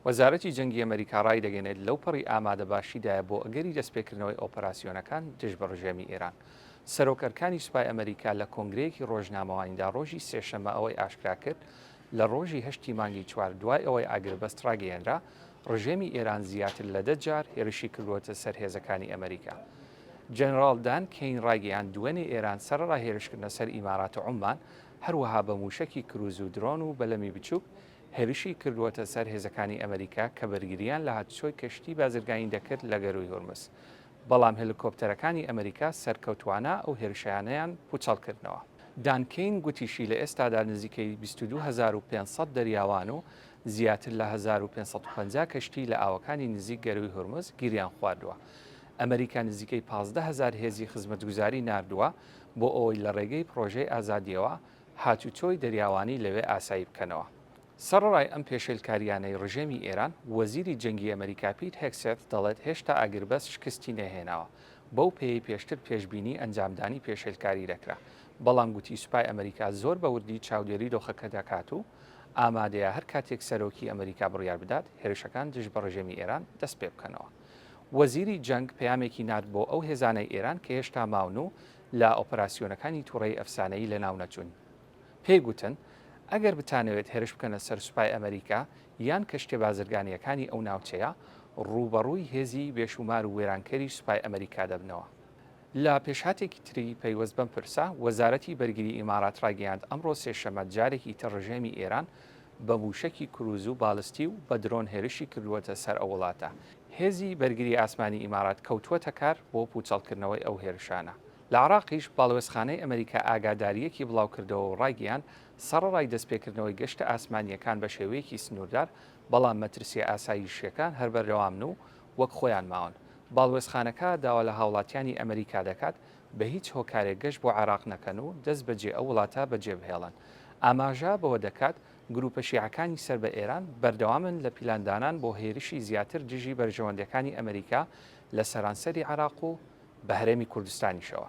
وەزارەتی جەنگی ئەمەریکا ڕایدەگەنێت لەوپەڕی ئامادەباشیدایە بۆ ئەگەری دەستپێکردنەوەی ئۆپەراسیۆنەکان دژ بە ڕژێمی ئێران. سەرۆک ئەرکانی سوپای ئەمەریکا لە کۆنگرەیەکی ڕۆژنامەوانیدا ڕۆژی سێشەممە ئەوەی ئاشکراکرد، لە ڕۆژی هەشتی مانگی چوار دوای ئەوەی ئاگربەست ڕاگەیەنرا، ڕژێمی ئێران زیاتر لە دە جار هێرشی کردووەتە سەر هێزەکانی ئەمەریکا. جەنەراڵ دان کەین ڕایگەیاند دوێنێ ئێران سەرەڕای هێرشکردنە سەر ئیمارات و عوممان، هەروەها بە مووشەکی کرووز و درۆن و بەلەمی بچووک هێرشی کردووەتە سەر هێزەکانی ئەمەریکا کە بەرگرییان لە هاتچۆی کەشتی بازرگانی دەکرد لە گەرووی هورمز، بەڵام هێلیکۆپتەرەکانی ئەمەریکا سەرکەوتووانە ئەو هێرشەیانەیان پووچەڵکردنەوە. دان کین گوتیشی لە ئێستادا نزیکەی بیست و دوو هەزار و پێنج سەد دەریاوان و زیاتر لە هەزار و پێنج سەد و پەنجا کەشتی لە ئاوەکانی نزیک گەرووی هورمز گیریان خواردووە. ئەمەریکا نزیکەی پازدە هەزار هێزی خزمەتگوزاری ناردووە بۆ ئەوەی لە ڕێگەی پڕۆژەی ئازادییەوە هاتوچۆی دەریاوانی لەوێ ئاسایی بکەنەوە. سەڕەڕای ئەم پێشێلکارییانەی ڕژێمی ئێران، وەزیری جەنگی ئەمەریکا پیت هێگسێت دەڵێت هێشتا ئاگربەست شکستی نەهێناوە، بەو پێیەی پێشتر پێشبینی ئەنجامدانی پێشێلکاری دەکرا، بەڵام گوتی سوپای ئەمەریکا زۆر بە وردی چاودێری دۆخەکە دەکات و ئامادەیە هەر کاتێک سەرۆکی ئەمەریکا بڕیار بدات هێرشەکان دژ بە ڕژێمی ئێران دەست پێبکەنەوە. وەزیری جەنگ پەیامێکی نارد بۆ ئەو هێزانەی ئێران کە هێشتا ماون و لە ئۆپەراسیۆنەکانی توڕەیی ئەفسانەیی لەناونەچوون. پێی گوتن، ئەگەر بتانەوێت هێرش بکەنە سەر سوپای ئەمەریکا یان کەشتیە بازرگانییەکانی ئەو ناوچەیە، ڕووبەڕووی هێزی بێشوومار و وێرانکەری سوپای ئەمەریکا دەبنەوە. لە پێشهاتێکی تری پەیوەست بەم پرسە، وەزارەتی بەرگری ئیمارات ڕایگەیاند، ئەمڕۆ سێشەممە جارێکی تر ڕژێمی ئێران بە مووشەکی کرووز و بالستی و بە درۆن هێرشی کردووەتە سەر ئەو وڵاتە. هێزی بەرگری ئاسمانی ئیمارات کەوتووەتە کار بۆ پووچەڵکردنەوەی ئەو هێرشانە. لە عێراقیش باڵوێزخانەی ئەمەریکا ئاگادارییەکی بڵاوکردەوە و ڕایگەیاند، سەڕەڕای دەستپێکردنەوەی گەشتە ئاسمانییەکان بە شێوەیەکی سنووردار، بەڵام مەترسییە ئاساییشییەکان هەر بەردەوامن و وەک خۆیان ماون. باڵوێزخانەکە داوا لە هاوڵاتیانی ئەمەریکا دەکات بە هیچ هۆکارێک گەشت بۆ عێراق نەکەن و دەست بەجێ ئەو وڵاتە بەجێبهێڵن. ئاماژە بەوە دەکات، گرووپە شیعەکانی سەر بە ئێران بەردەوامن لە پیلاندانان بۆ هێرشی زیاتر دژی بەرژەوەندەکانی ئەمریکا لە سەرانسەری عێراق و بە هەرێمی کوردستانیشەوە.